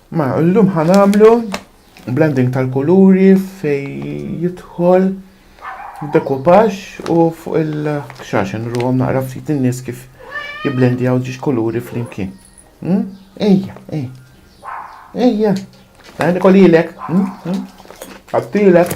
Ma llum ħa nagħmlu blending tal-kuluri fej jidħol dekupaj u fuq il-xaxen ruhom naqra ftit in-nies kif jiblendjaw ġiex kuluri flimkien. Hmm? Ejja, ejja. Ejja. Għandi kolilek. Hmm? Hmm? Għattilek.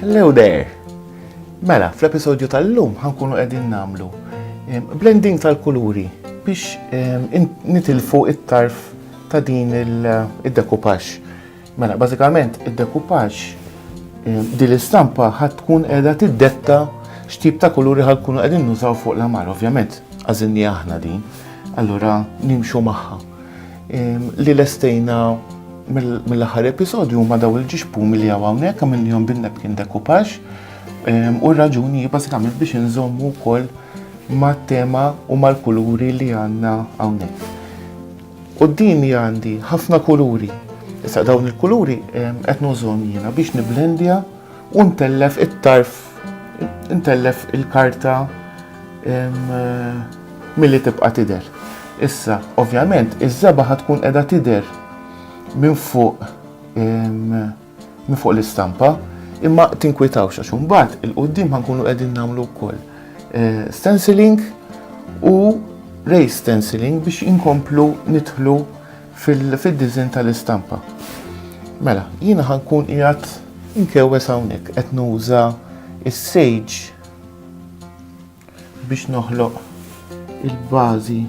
Hello there! Mela, fl-episodju tal-lum ħankunu qegħdin namlu blending tal-kuluri biex nitilfu it-tarf ta' din il-dekupax. Mela, bażikament id-dekupaġġ eh, din l-istampa ħad tkun qiegħda tiddetta x'tip ta' kuluri ħad tkunu qegħdin nużaw fuq l-amar, ovvjament għażilni aħna din, allura nimxu magħha. Ehm, li lestejna mill-aħħar episodju ma daw il-ġixpu mill għaw hawnhekk għamilnihom bin-nepkin dekupaġġ ehm, u r-raġuni bażikament biex inżommu wkoll ma' tema u mal-kuluri li għandna hawnhekk. Quddiemi għandi ħafna kuluri. Issa dawn il-kuluri qed nużhom jiena biex niblendja u ntellef it-tarf, ntellef il-karta milli tibqa' tidher. Issa, ovvjament, iż-żebgħa ħad tkun qiegħda tidher minn fuq minn fuq l-istampa, imma tinkwitawx għax imbagħad il-qudiem ħankunu qegħdin nagħmlu wkoll eh, stenciling u ray stenciling biex inkomplu nidħlu fil-dizin tal-istampa. Mela, jiena ħankun qiegħed inkewwes hawnhekk qed nuża is-sage biex noħloq il-bażi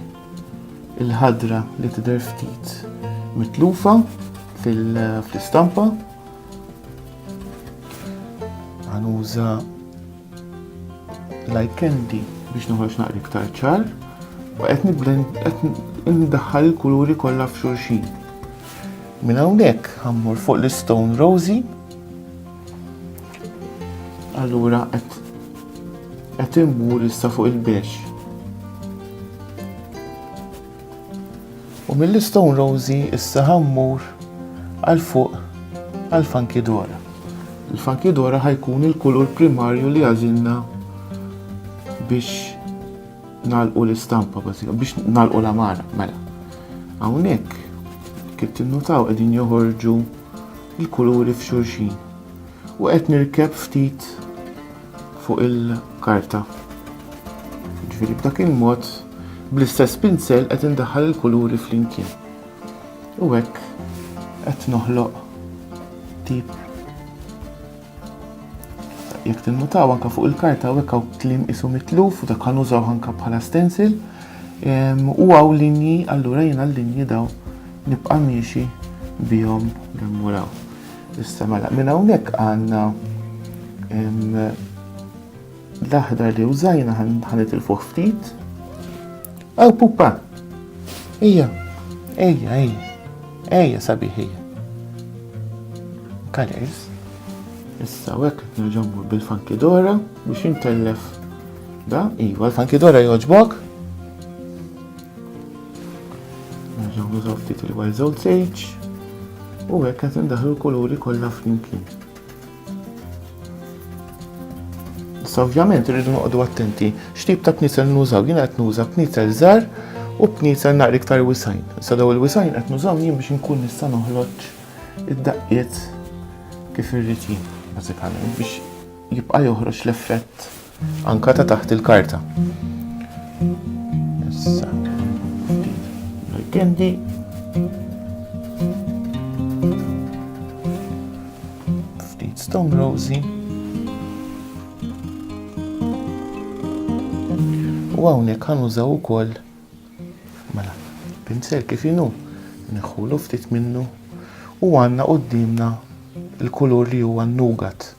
il-ħadra li tidher ftit mitlufa fl-istampa. Għanuża like candy biex noħroġ naqri iktar ċar. Qed niblend qed ndaħħal il-kuluri kollha f'xulxin. Minn hawnhekk ħammur fuq l-Stone Rosy Allura qed qed immur issa fuq il-bex. U mill-Stone Rosie issa ħammur għal fuq għal Funky Dora. Il-Funky Dora ħajkun il-kulur primarju li għażilna biex nalqu l-istampa biex nalqu l-amara, mela. Hawnhekk kif tinnutaw qegħdin joħorġu il-kuluri f'xulxin u qed nirkeb ftit fuq il-karta. Ġifieri b'dak il-mod bl-istess pinsel qed indaħħal il-kuluri flimkien. U hekk qed noħloq tip Jekk tinnutaw anka fuq il-karta hawnhekk hawn kliem isu mitluf u dak ħanużaw anka bħala stencil. U għaw linji, allura jiena l-linji daw nibqa' miexi bihom l-muraw. Issa mela, minn hawnhekk għandna L-aħdar li użajna ħa nitilfuh ftit. Aw pupa! Ejja, ejja, ejja, ejja sabiħ ejja. Colors. Issa u hekk nerġgħu bil-fankidora biex intellef da, iva, l-fankidora jogħġbok. Nerġgħu nużaw ftit il-wild zone sage u hekk qed indaħlu l-kuluri kollha flimkien. Issa ovvjament irridu noqogħdu attenti x'tip ta' knisel nużaw. Jiena qed nuża knisel żgħar u knisel naqra iktar wisajn. Issa daw il-wisajn qed nużaw jien biex inkun nista' noħloġ id-daqqiet kif irrid jien, bażikament biex jibqa' joħroġ l-effett Anka ta' taħt il-karta. Issa. Kendi. Ftit stone rosy. U hawnhekk ħanużaw ukoll mela pinsel kif inhu neħħulu ftit minnu u għandna qudiemna il-kulur li huwa nugat.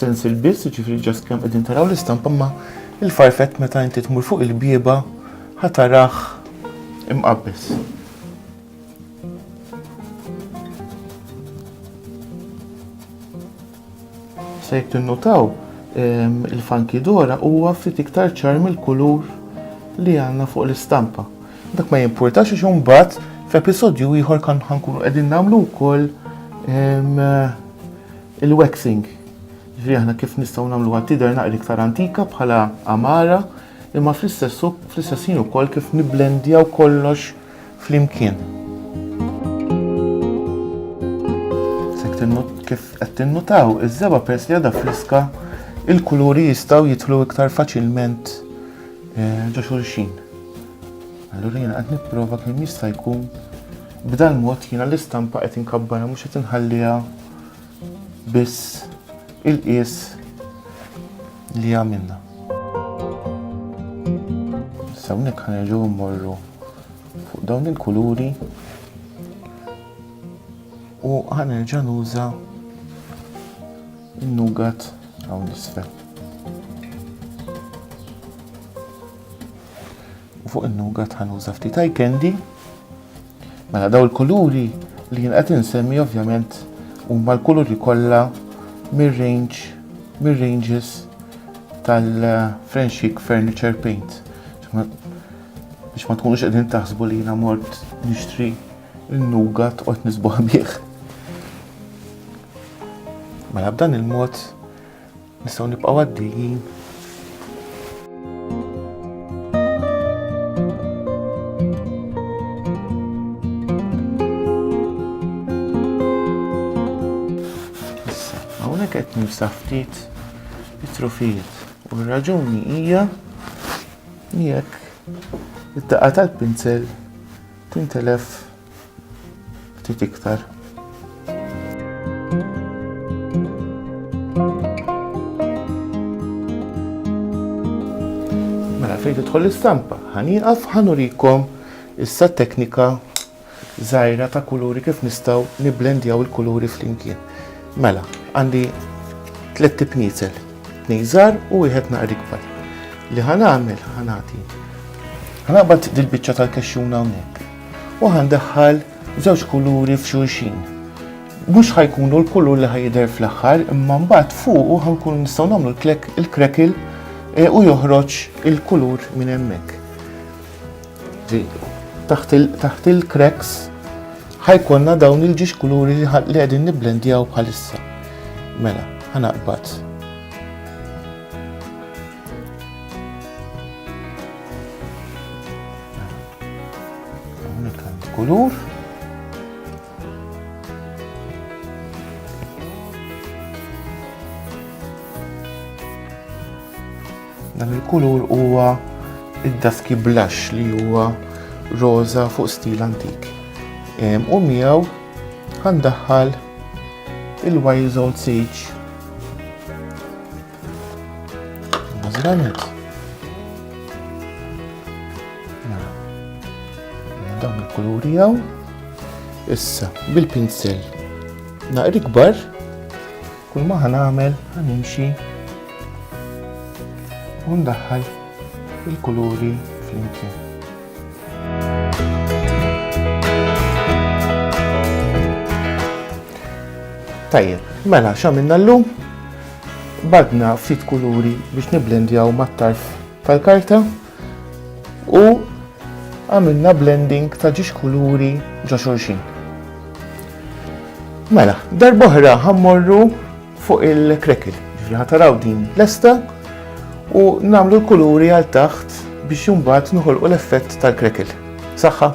stencil biss, ġifiri ġast kemm qegħdin taraw l-istampa ma il-farfett meta inti tmur fuq il-bieba ħataraħ imqabbes. Se tinnutaw il-funky dora huwa ftit iktar ċar mill-kulur li għandna fuq l-istampa. Dak ma jimpurtax għax imbagħad f'episodju ieħor kan ħankunu qegħdin nagħmlu wkoll il-waxing. Ġifieri aħna kif nistgħu nagħmluha tidher naqri iktar antika bħala amara imma fl-istess fl-istess ħin ukoll kif niblendjaw kollox flimkien. Kif qed tinnutaw, iż-żebgħa peress li għadha friska, il-kuluri jistgħu jidħlu iktar faċilment eh, ġo xulxin. Allura jiena qed nipprova kemm jista' jkun b'dal mod jiena l-istampa qed inkabbarha mhux qed inħalliha biss il-qies li għamilna. Issa hawnhekk ħanerġgħu mmorru fuq dawn il-kuluri u ħanerġa' nuża n-nugat hawn l-isfel. U fuq in-nugat ħanuża ftit eye candy Mela daw il-kuluri li jien qed insemmi ovvjament huma l-kuluri kollha mir-range mir-ranges tal-French Furniture Paint. Biex ma tkunux qegħdin taħsbu li jiena mort nixtri n-nugat qod nisbuħ bih. Mela b'dan il-mod Nistgħu nibqgħu għaddejjin. Issa, hawnhekk qed nimsaħ ftit it-trufijiet. U r-raġuni hija jekk id-daqqa tal-pinzel tintelef Ftit iktar. Mela fejn tidħol l-istampa, ħanieqaf ħanurikom issa teknika żgħira ta' kuluri kif nistgħu nibblendjaw il-kuluri flimkien. Mela, għandi tliet tipnizel, tnejżar u wieħed naqri kbar. Li ħanagħmel ħanati. Ħanaqbad dil-biċċa tal-kexxuna hawnhekk. u ħandaħħal żewġ kuluri f'xulxin. Mhux ħajkunu l-kulur li ħajidher fl-aħħar, imma mbagħad fuq ħankun nistgħu nagħmlu l-krekil eh, u joħroġ il-kulur minn hemmhekk. Taħt il-kreks ħajkonna dawn il-ġiex kuluri li qegħdin nibblendjaw bħalissa. Mela, ħanaqbad. Hawnhekk għandi kulur. Dan il-kulur huwa id-daski blush li huwa roża fuq stil antik. U miegħu għandaħħal il-Wild Old Sage Zranet. Mela. Dawn il-kuluri għaw. Issa, bil-pinsel. Naqri kbar. Kull ma ħanamel, ħanimxi. Undaħħal il-kuluri flimkien. Tajjeb, mela x'għamilna llum? Badna ftit kuluri biex niblendjaw mat-tarf tal-karta u għamilna blending ta' ġiex kuluri ġo xulxin. Mela, darboħra ħammorru fuq il-krekil, ġifri ħataraw din lesta u namlu l-kuluri għal taħt biex jumbat nħolqu l-effett tal-krekil. Saħħa!